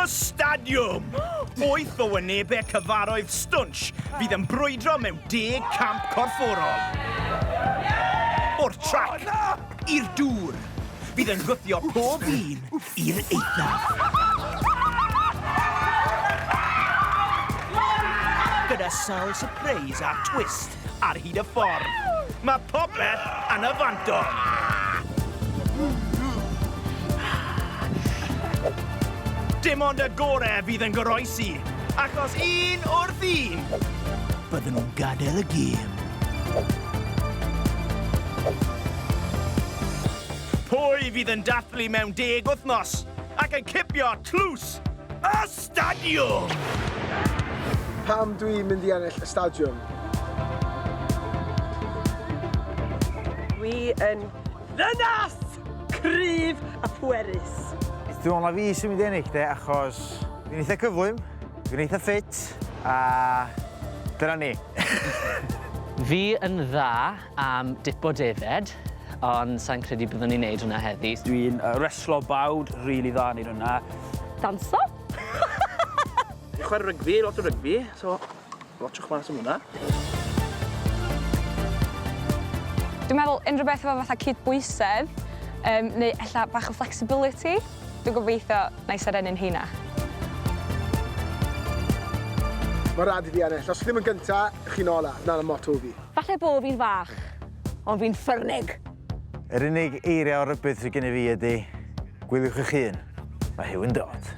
Stadiwm! Wyth o wynebau cyfaroedd stwnsh fydd yn brwydro mewn deg camp corfforol. O'r trac! i'r dŵr. Bydd yn gwthio pob un i'r eithaf. Gyda sawl surprise a twist ar hyd y ffordd, mae popeth yn y fantol! Dim ond y gore fydd yn goroesi, achos un wrth un, bydden nhw'n gadael y gêm. Pwy fydd yn dathlu mewn deg wythnos ac yn cipio tlws y stadiwm? Pam dwi mynd i ennill y stadiwm? Dwi yn ddynas! Cryf a phwerus. Dwi me'wl na fi sy'n mynd i ennill de achos fi'n eitha cyflym. Dwi'n eitha ffit a dyna ni. Fi yn dda am dipo defaid, ond sai'n credu byddwn i'n neud hwnna heddi. Dwi'n reslo bawd, rili dda yn neud hwnna. Danso? Chware rygbi, lot o rygbi, so... Watsiwch mas am hwnna. Dwi'n meddwl unrhyw beth efo fatha cydbwysedd, um, neu ella bach o flexibility, dwi'n gobeithio na i serennu'n heina. Mae rhaid i fi ennill. Os chi ddim yn gynta, chi'n ola. Na'n y motto fi. Falle bod fi'n fach, ond fi'n ffyrnig. Yr unig eiriau o rybudd sydd gennyf i ydy, gwyliwch eich hun, mae Huw yn dod.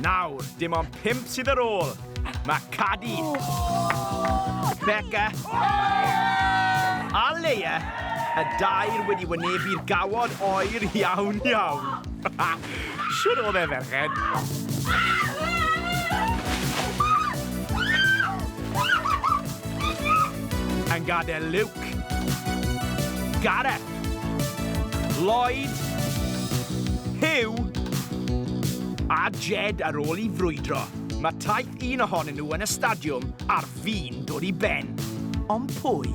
Nawr, dim ond pump sydd ar ôl. Mae Cadi. Becca. A Leia, y dair wedi wynebu'r gawod oer iawn iawn. Shwt oedd e, ferched? Yn gadael Luke. Gareth. Lloyd. Huw. A Jed ar ôl i frwydro. Mae taith un ohonyn nhw yn y stadiwm ar Fi'n dod i ben. Ond pwy?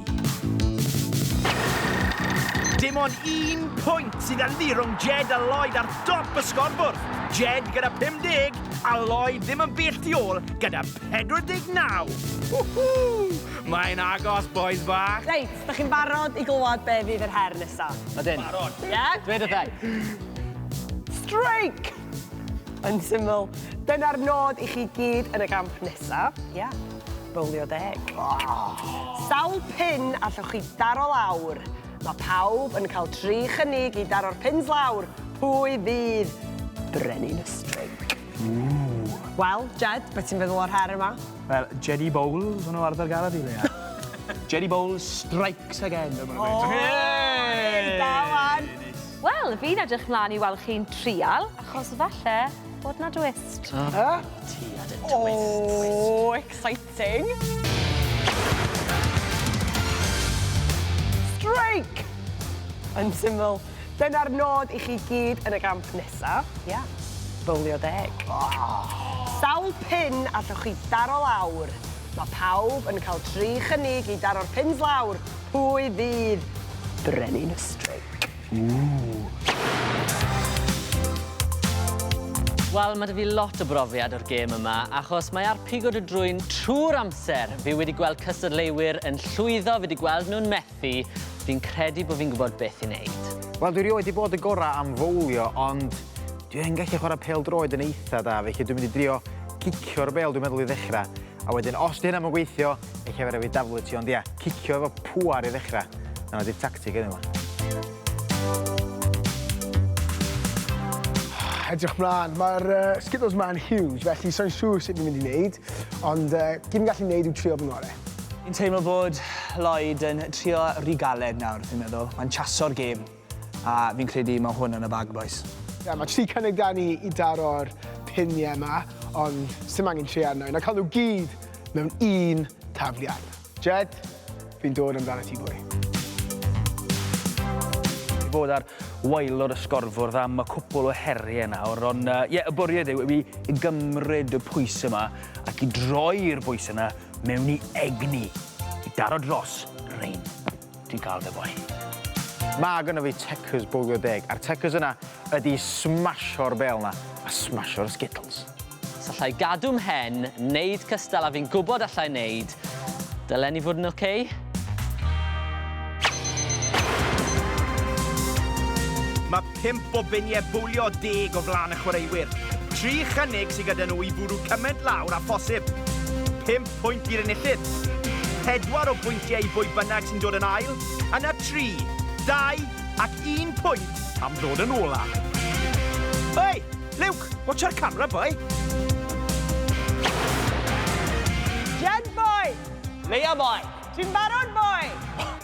Dim ond un pwynt sydd ynddi rhwng Jed a Lloyd ar dop y sgorbwrdd. Jed gyda 50 a Lloyd ddim yn bell tu ôl gyda 49. Whoo-hoo! Mae'n agos, bois bach. Reit, da chi'n barod i glywed be fydd yr her nesaf? Ydyn. Barod. Ie? Dwed wrtha i. Streic! Yn syml, dyna'r nod i chi gyd yn y gamp nesa. Ia. Bowlio deg. Sawl pin allwch chi daro lawr? Mae pawb yn cael tri chynnig i daro'r pins lawr, pwy fydd brenin y streic? Wel, Jed, beth ti'n feddwl o'r her yma? Wel, Jedi Bowls o'n nhw arfer gael fi, Leia. Jedi Bowls strikes again! O! Da wan! Wel, fi'n edrych mlan i weld chi'n trial, achos falle bod 'na dwist. Yy? Ti a dy twists. O, exciting! Strike! Yn syml, dyna'r nod i chi gyd yn y gamp nesa. Ia. Bowlio deg. Sawl pin allwch chi daro lawr? Mae pawb yn cael tri chynnig i daro'r pins lawr. Pwy fydd brenin y streic? Wel, ma' 'da fi lot o brofiad o'r gêm yma, achos mae ar pigo dy drwyn trw'r amser. Fi wedi gweld cystadleuwyr yn llwyddo, fi 'di gweld nhw'n methu, fi'n credu bo' fi'n gwbod beth i neud. Wel, dwi rioed 'di bod y gora' am fowlio, ond dwi yn gallu chwara' pêl-droed yn eitha' da, felly dwi'n mynd i drio gicio'r bêl, dwi'n meddwl, i ddechra'. a wedyn os 'di hynna 'm yn gweithio, ella fe rai' fi daflu ti ond ia, cicio efo pŵar i ddechra. 'Na fo 'di'r tactig heddiw 'ma. Edrych mlan, ma'r yy skittles 'ma yn huge felly sai'n siŵr sut fi'n mynd i neud ond yy gyd fi'n gallu neud yw trio fy ngore. Fi'n teimlo bod Lloyd yn trio ry galed nawr fi'n meddwl, mae'n chaso'r gêm. A fi'n credu mae hwn yn y bag bois. Ie, mae tri cynnig da ni i daro'r piniau yma, ond sy'n angen tri arno i, na cael nhw gyd mewn un tafliad. Jed, fi'n dod amdano ti fwy. I fod ar waelod y sgorfwrdd am y cwpl o heriau nawr, ond ie, yeah, y bwriad yw i gymryd y pwys yma ac i droi'r bwys yna mewn i egni i daro dros Rein. Ti'n cael dy foi. Mae gynno fi Checkers bowlio deg, a'r Checkers yna ydi smasio'r bêl yna, a smasio'r Skittles. Os allai gadw mhen, neud cystal a fi'n gwybod allai neud, dylen ni fod yn ok? Pump o biniau bowlio deg o flaen y chwaraewyr. Tri chynnig sydd gyda nhw i fwrw cymaint lawr â phosib. Pump pwynt i'r enillydd. Pedwar o bwyntiau i bwy bynnag sy'n dod yn ail. Yna tri, dau ac un pwynt am ddod yn ola. Hei! Luke! Watcha'r camera, boi! Jed, boi! Leia, boi! Ti'n barod, boi!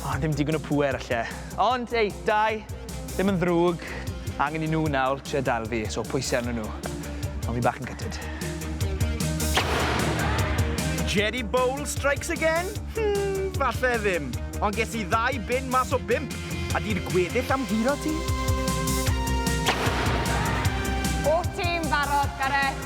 O, ddim digon o pŵer, alle. Ond, ei, dau, ddim yn ddrwg. Angen i nhw nawr trio dal fi, so pwysau arnyn nhw. Ond fi bach yn gytid. Jerry Bowl strikes again? Hmm, falle ddim. Ond ges i ddau bin mas o bimp. A di'r gweddill am guro ti? Bob tîm barod, Gareth?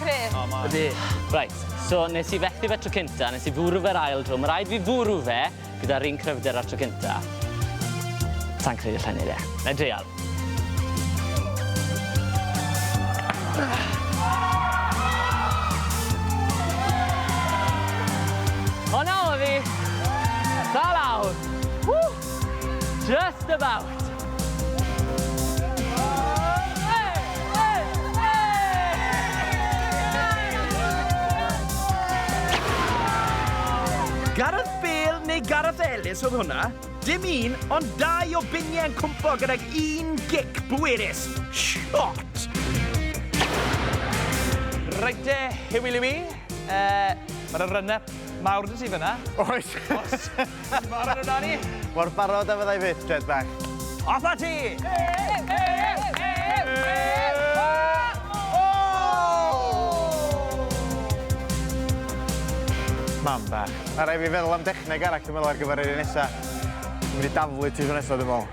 Cryf. O, mae. Ydi. Reit, so nes i fethu fe tro cynta, nes i fwrw fe'r ail dro. Mae rhaid fi fwrw fe gyda'r un cryfder ar tro cynta. Sa'n credu allai neud e. Na i dreial. O na, o fi! Da lawr! Ww! Just about! Gareth Bale neu Gareth Ellis oedd hwnna? Dim un, ond dau o biniau yn cwmpo gydag un gic bwerus. Shot! Reit de, Huw Liwi. Mae 'na run-up mawr 'da ti fan'na. Oes! Ti'n barod amdani? Mor barod a fyddai fyth, Jed bach. Off a ti! Mam bach. Ma' rai' fi feddwl am dechneg arall dwi'n meddwl ar gyfer yr un nesa. Dwi mynd i daflu ti tro nesa dwi'n meddwl.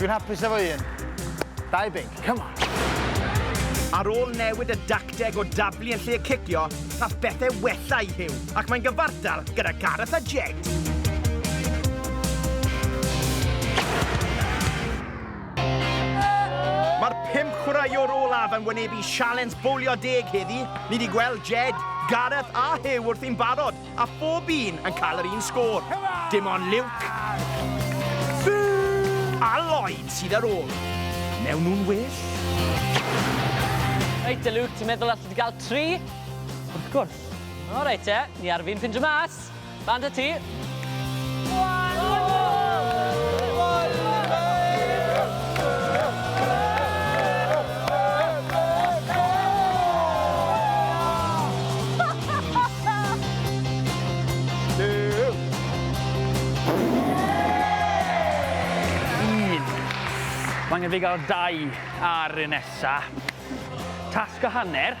Dwi'n hapus efo un. Dau binc, come on! Ar ôl newid y dacteg o dablu yn lle cicio, gall bethau wella i Huw ac mae'n gyfartal gyda Gareth a Jed. Mae'r pum chwaraewr olaf yn wynebu sialens bowlio deg heddi. Ni 'di gweld Jed, Gareth a Huw wrthi'n barod, A phob un yn cael yr un sgôr. Dim ond Luke a Lloyd sydd ar ôl. Mewn nhw'n well. Reit te Luke, ti'n meddwl allet ti gael tri? Wrth gwrs. O reit te, ni ar fin ffindio mas. Lan 'da ti. Mae angen fi gael dau ar y nesa. Tasg a hanner.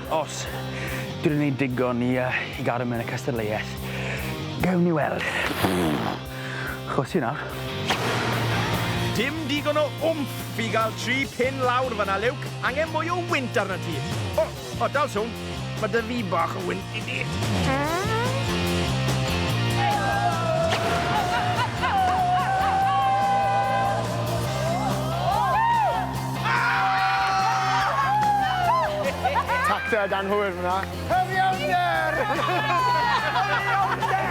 Os dwi 'di neud digon i yy i gadw mewn y cystadleuaeth, gewn ni weld. Chwysu nawr. Dim digon o wmff i gael tri pin lawr fan'na, Luke. Angen mwy o wynt arnat ti. O, o, dal sownd. Mae dy ddu bach o wynt i di. Tacteg anghywir fyna. Cyfiawnder! Cyfiawnder!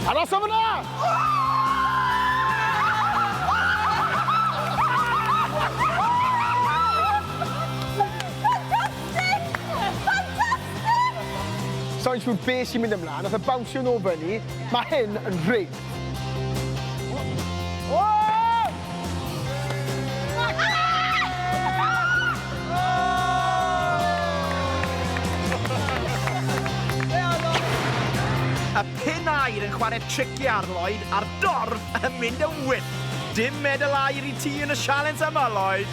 Arosa fyna! Sai'n siŵr be sy'n mynd ymlaen, nath e bownsio nôl fyny. Ma' hyn yn rigged. Y pin aer yn chwarae tricie ar Lloyd a'r dorf yn mynd yn wyllt. Dim medal aer i ti yn y sialens yma, Lloyd!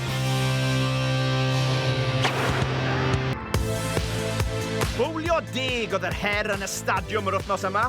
Bowlio deg oedd yr her yn y stadiwm yr wythnos yma.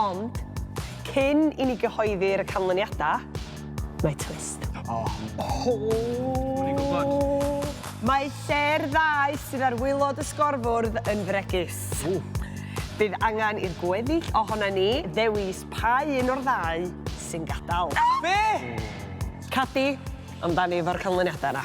Ond, cyn i ni gyhoeddi'r y canlyniadau, mae twist. O! O! O'n i'n gwybod! Mae lle'r ddau sydd ar waelod y sgorfwrdd yn fregus. O! Bydd angen i'r gweddill ohonan ni ddewis pa un o'r ddau sy'n gadael. Be? Cadi, amdani efo'r canlyniadau yna.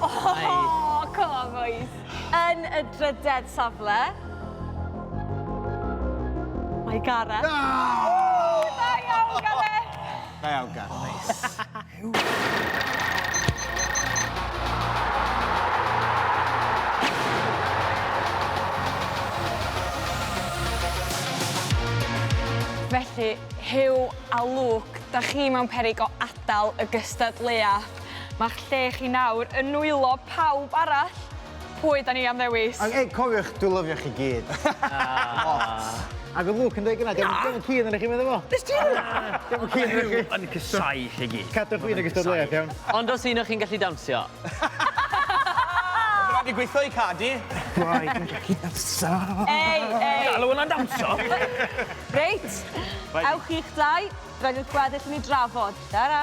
Oh, come on, boys. Yn y drydedd safle. Mae Gareth. Oh! Da iawn, Gareth. Da iawn, Gareth. Felly, Huw a Luke, da chi mewn peryg o adael y gystadleuaeth. Mae'ch lle chi nawr yn nwylo pawb arall. Pwy da ni am ddewis? Ac ei, cofiwch, dwi lyfio chi gyd. Lot. Ac oedd Luke yn dweud gyna, dio'm yn keen arnoch chi medda fo. Nes ti ddeud hynna? Dio'm yn keen arnoch chi. Huw yn casau chi gyd. Cadwch fi yn y gystadleuaeth, iawn? Ond os un o chi'n gallu dawnsio. Oedd raid fi gweithio i Cardi. Rhaid fi'n gallu dawnsio. Ei, ei. Galw hwnna'n dawnsio? Reit, ewch chi'ch dau, rhaid i'r gweddill ni drafod. Tara.